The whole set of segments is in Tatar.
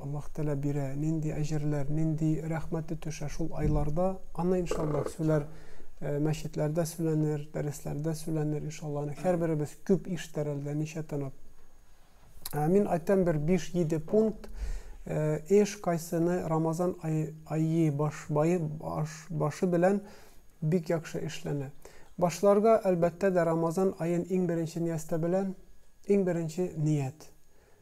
Аллаһ Тәгалә бирә, нинди әҗерләр, нинди рәхмәте төшә шул айларда, аны иншаллаһ сүләр, э, мәчетләрдә сүләнер, дәресләрдә сүләнер иншаллаһ. Аны һәрберебез күп ишетер әле дә ничә тынып. Ә мин айтам бер 5-7 пункт, э, эш кайсыны Рамазан ай, айи баш, баи, баш, башы белән бик якшы эшләнә. Башларга әлбәттә дә Рамазан аен иң беренче ниястә белән, иң беренче ният.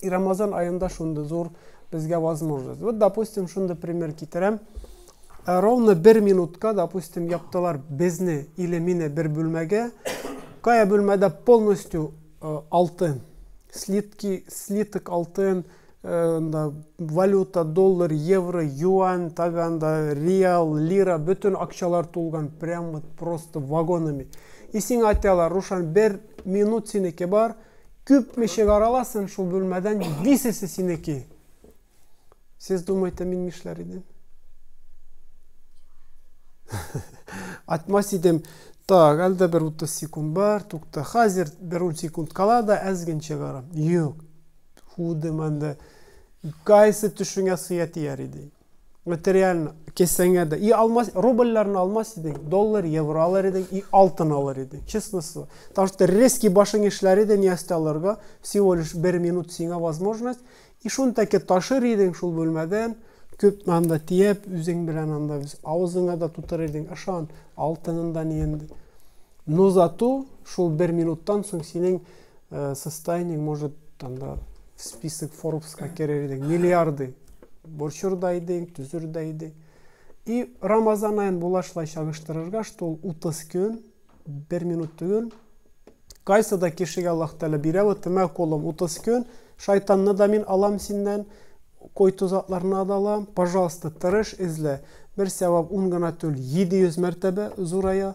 И Рамазан аенда шундый зур безгә возможность. Вот, допустим, шундый пример китерәм. Э, ровно бер минутка, допустим, яптылар безне или мине бер бүлмәгә. Кая бүлмәдә полностью э, алтын, слитки, слиток алтын, э, да, валюта, доллар, евро, юань, таганда, реал, лира, бөтен акчалар тулган, прям вот просто вагонами. И сиңа айталар, Рушан, бер минут синеке бар, Күп ми чыгараласын шул бүлмәдән висесе синеки. Сез думаете мин нишләр идем? Атмас идем. Так, әлдә бер 30 секунд бар, тукта. Хәзер бер 10 секунд кала да әзген чыгарам. Юк. Худым әлдә. Кайсы төшеңә сыя тияр иде. материально кесәңә дә и алмас рубльләрне алмас идең доллар евро алыр идең и алтын алыр идең честно слово потому что резкий башың эшләр иде ниясте алырга всего лишь бер минут сиңа возможность и шуны тәке ташыр идең шул бүлмәдән күп анда тиеп үзең белән анда авызыңа да тутырыр идең ышан алтынын да ниен но зато шул бер минуттан соң синең э, состояниең может там да в список форбска керер идең миллиарды борчыр да идең төзер дә идең и рамазан аен булашлай чагыштырырга что ул утыз көн бер минут түгел кайсы да кешегә аллаһ тәғәлә бирә вот мә кулым утыз көн шайтанны да мин алам синнән койты затларына да алам пожалуйста тырыш эзлә бер сәвап ун гына түгел җиде йөз мәртәбә зурая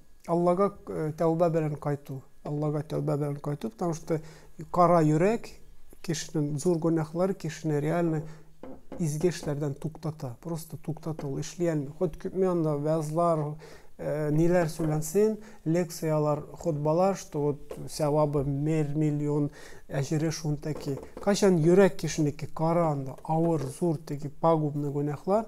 Аллага тәүбә белән кайту. Аллага тәүбә белән кайту, потому что кара йөрәк кешенең зур гөнаһлары кешене реально изге эшләрдән туктата. Просто туктата ул эшли алмый. Ход күпме анда вәзлар, ниләр сөйләнсен, лекциялар, хотбалар, что вот сәвабы мер миллион, әҗере шунта ки. Кайчан йөрәк кешенеке кара анда, авыр, зур теге пагубный гөнаһлар,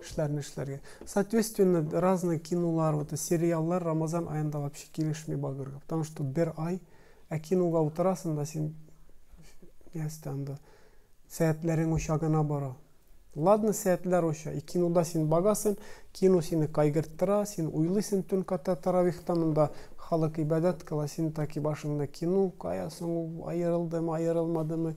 Эшләрне эшләргә. Соответственно, разный кинолар, вот сериаллар Рамазан аенда вообще килешми багырга. Потому что бер ай, ә кинога утырасың да син ястә анда сәятләрең оча гына бара. Ладно, сәятләр оча. И кинода син багасың, кино сине кайгырттыра, син уйлыйсың төн ката таравихтан анда халык ибадәт кыла, син таки башыңда кино, кая соң ул, аерылдымы, аерылмадымы.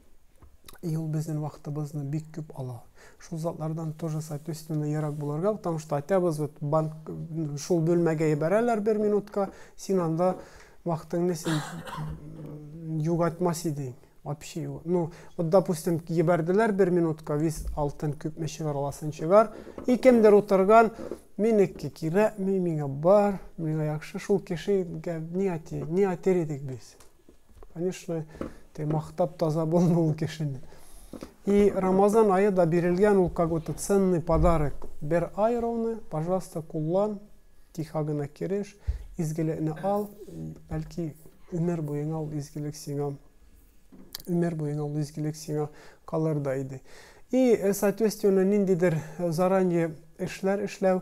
И ул безнең вакытыбызны бик күп ала. Шул затлардан тоже соответственно ерак булырга, потому что айтабыз вот банк шул бүлмәгә ебәрәләр бер минутка, син анда вакытыңны син югатмас идең. Вообще, ну, вот, допустим, ебәрделәр бер минутка, виз алтын күпме чыгар аласын чыгар, и кемдер утырган, минеке кирәкми, миңа бар, миңа яхшы, шул кешегә ни әти, ни әтер идек без. Конечно, те мактап таза булмый ул кешене. И Рамазан айы да бирелгән ул какой-то ценный подарок. Бер ай ровно, пожалуйста, куллан, тихо гына кереш, изгелекне ал, бәлки өмер буена ул изгелек сиңа өмер буена ул изгелек сиңа калыр да иде. И, соответственно, ниндидер заранее эшләр эшләү,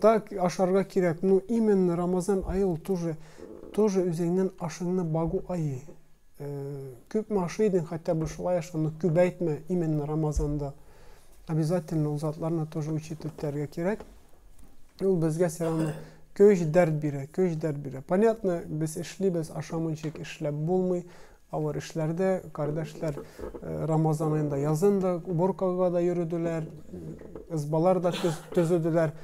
Так ашарга кирәк, ну именно Рамазан ае ул тоже, тоже үзеңнен ашыңны багу ае. Күпме ашый идең, хәтта бу шулай аша, но күбәйтмә именно Рамазанда. Обязательно ул затларны тоже учит үтәргә кирәк. Ул безгә все равно көч дәрт бирә, көч дәрт бирә. Понятно, без эшлибез, ашамыйчык эшләп булмый. Авыр эшләрдә, кардәшләр Рамазан аенда язын да уборкага да йөрүделәр, ызбалар да төзүделәр,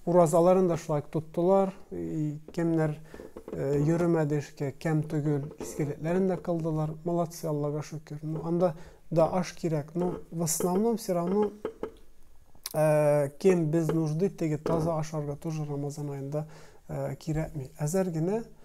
уразаларын да шулай тоттылар, кемнәр йөрмәде эшкә, кәм түгел, искелекләрен дә кылдылар, молодцы, Аллага шөкер. Ну, анда да аш кирәк, но в основном все равно кем без нужды, теге таза ашарга тоже Рамазан аенда кирәкми. Әзәр генә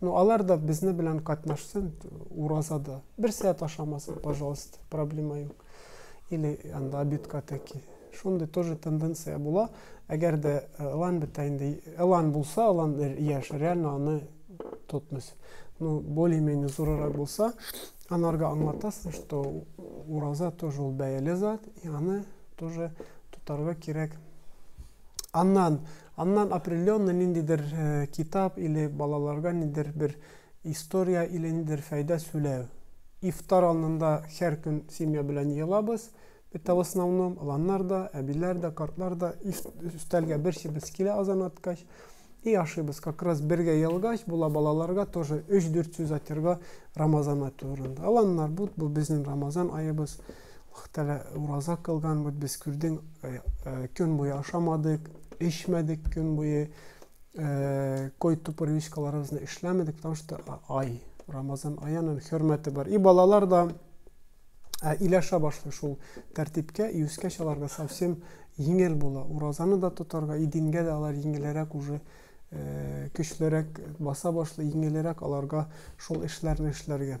Ну алар да безне белән катнашсын уразада. Бер сәгать ашамасын, пожалуйста, проблема юк. Или анда обедка таки. Шундый тоже тенденция була. Әгәр дә э, ылан бетә инде, ылан булса, ылан яшь, реально аны тотмыйсы. Ну, более-менее зурырак булса, анарга аңлатасың, что ураза тоже ул бәяле зат, и аны тоже тотарга кирәк. Аннан Аннан определенный ниндидер китап или балаларга нидер бер история или нидер фәйдә сүләү. Ифтар алнында хәр көн семья белән йыелабыз. Это в основном ланнар да, әбиләр дә, картлар да өстәлгә берсебез килә азан аткач. И ашыйбыз. Как раз бергә йыелгач була балаларга тоже өч-дүрт сүз айтырга Рамазан ай турында. Аланнар бут, бу безнең Рамазан аебыз. Вәхтәле ураза кылган бит без, күрдең, көн буе ашамадык, эчмәдек көн буе, кой-ту привычкаларыбызны эшләмәдек, потому что ай, Рамазан ай аның хөрмәте бар. И балалар да иләшә башлый шул тәртипкә, и үскәч аларга совсем еңел була. Уразаны да тотарга, и дингә дә алар еңелерәк уже көчлерәк баса башлый, еңелерәк аларга шул эшләрне эшләргә.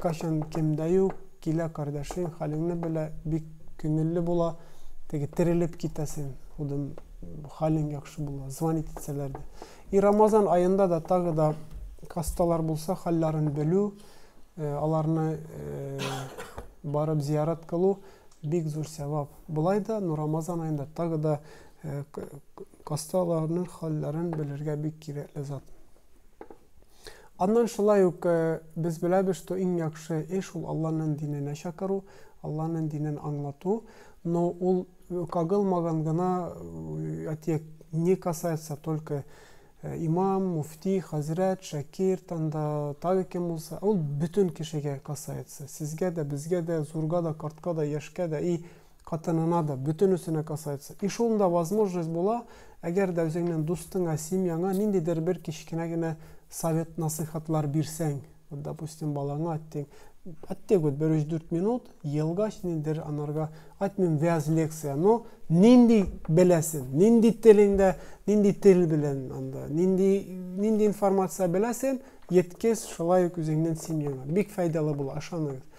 Кайчан кем дә юк, килә кардәшең, хәлеңне белә, бик күңелле була, теге терелеп китәсең, худым хәлең яхшы була, звонить итсәләр дә. И Рамазан аенда да тагы да хасталар булса, хәлләрен белү, аларны барып зиярат кылу бик зур сәвап. Болай да, ну Рамазан аенда тагы да хасталарның хәлләрен белергә бик кирәкле зат. Аннан шулай ук без беләбез, что иң яхшы эш ул Алланың диненә чакыру, Алланың динен аңлату. Но ул кагылмаган гына, әйтик, не касается только имам, муфти, хәзрәт, шәкирт, анда тагы кем булса, ул бөтен кешегә касается. Сезгә дә, безгә дә, зурга да, картка да, яшькә дә и Хатынына да, бөтенесенә касается. И шул да возможность була, әгәр дә үзеңнең дустыңа, семьяңа ниндидер бер кечкенә генә совет-насыйхатлар бирсәң, вот допустим, балаңа әттең, әттек вот бер өч-дүрт минут, елгач ниндидер анарга, әйтмим вәаз лекция, но нинди беләсен, нинди телеңдә, нинди тел белән анда, нинди, нинди информация беләсен, еткез шулай ук үзеңнең семьяңа. Бик файдалы була, ышаныгыз.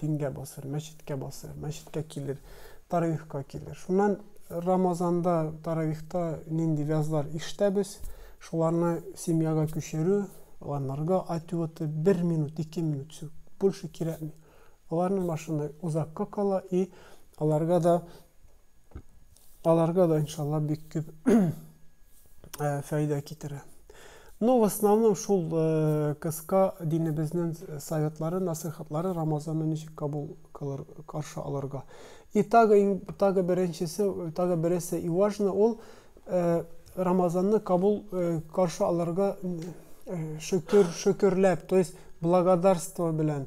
Дингә басыр, мәчеткә басыр, мәчеткә килер, таравихка килер. Шуннан Рамазанда, таравихта нинди вязлар ишетәбез, шуларны семьяга күчерү, аларга ответы бер минут, ике минут, все, больше кирәкми. Аларның машина озакка кала и аларга да Аларга да иншалла бик күп фәйдә китерә. Ну, в основном шул кыска динебезнең советлары, насыйхатлары Рамазанны ничек кабул кылыр, каршы алырга. И тагы тагы беренчесе, тагы бересе и важно ул Рамазанны кабул каршы алырга шөкер, шөкерләп, то есть благодарство белән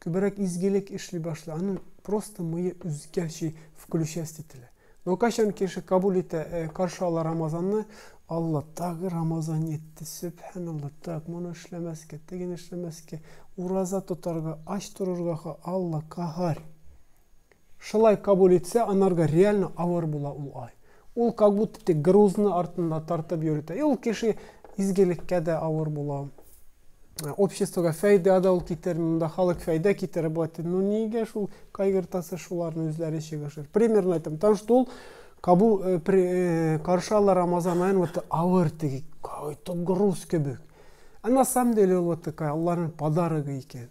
Күбрәк изгелек эшли башлый, аның просто мые үзгәчи включасть ителә. Но кайчан кеше кабул итә, каршы ала Рамазанны, Алла, тагы Рамазан йетте, сөбхәналла, так, моны эшләмәскә, тегене эшләмәскә, ураза тотарга, ач торырга ха, Алла, каһарь! Шылай кабул итсә анарга реально авыр була ул ай. Ул как будто тик грузны артында тартып йөртә. И ул кеше изгелеккә дә авыр була. Обществога фәйдә дә ул китерми. Монда халык фәйдә китерә бу атын. Ну нигә шул кайгыртасы шуларны үзләре чыгышыр. Примерно әйтәм, тан что ул кабул каршы ала Рамазан аен вот авыр теге, какой-то груз кебек. А на самом деле ул вот такая Алланың подарогы икән.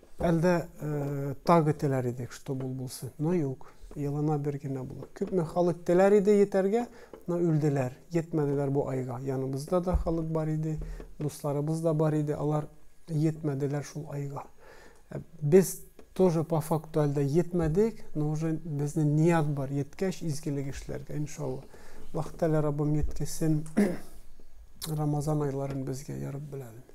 Әлдә тагы теләр идек, чтоб ул булсын, но юк, елына бер генә була. Күпме халык теләр иде йетәргә, но үлделәр, йетмәделәр бу айга. Яныбызда да халык бар иде, дусларыбыз да бар иде, алар йетмәделәр шул айга. Ә без тоже по факту әлдә йетмәдек, но уже безнең ният бар, йеткәч изгелек эшләргә, иншалла. Аллаһ Тәгалә Раббым йеткесен Рамазан айларын безгә, яраббел әләмин.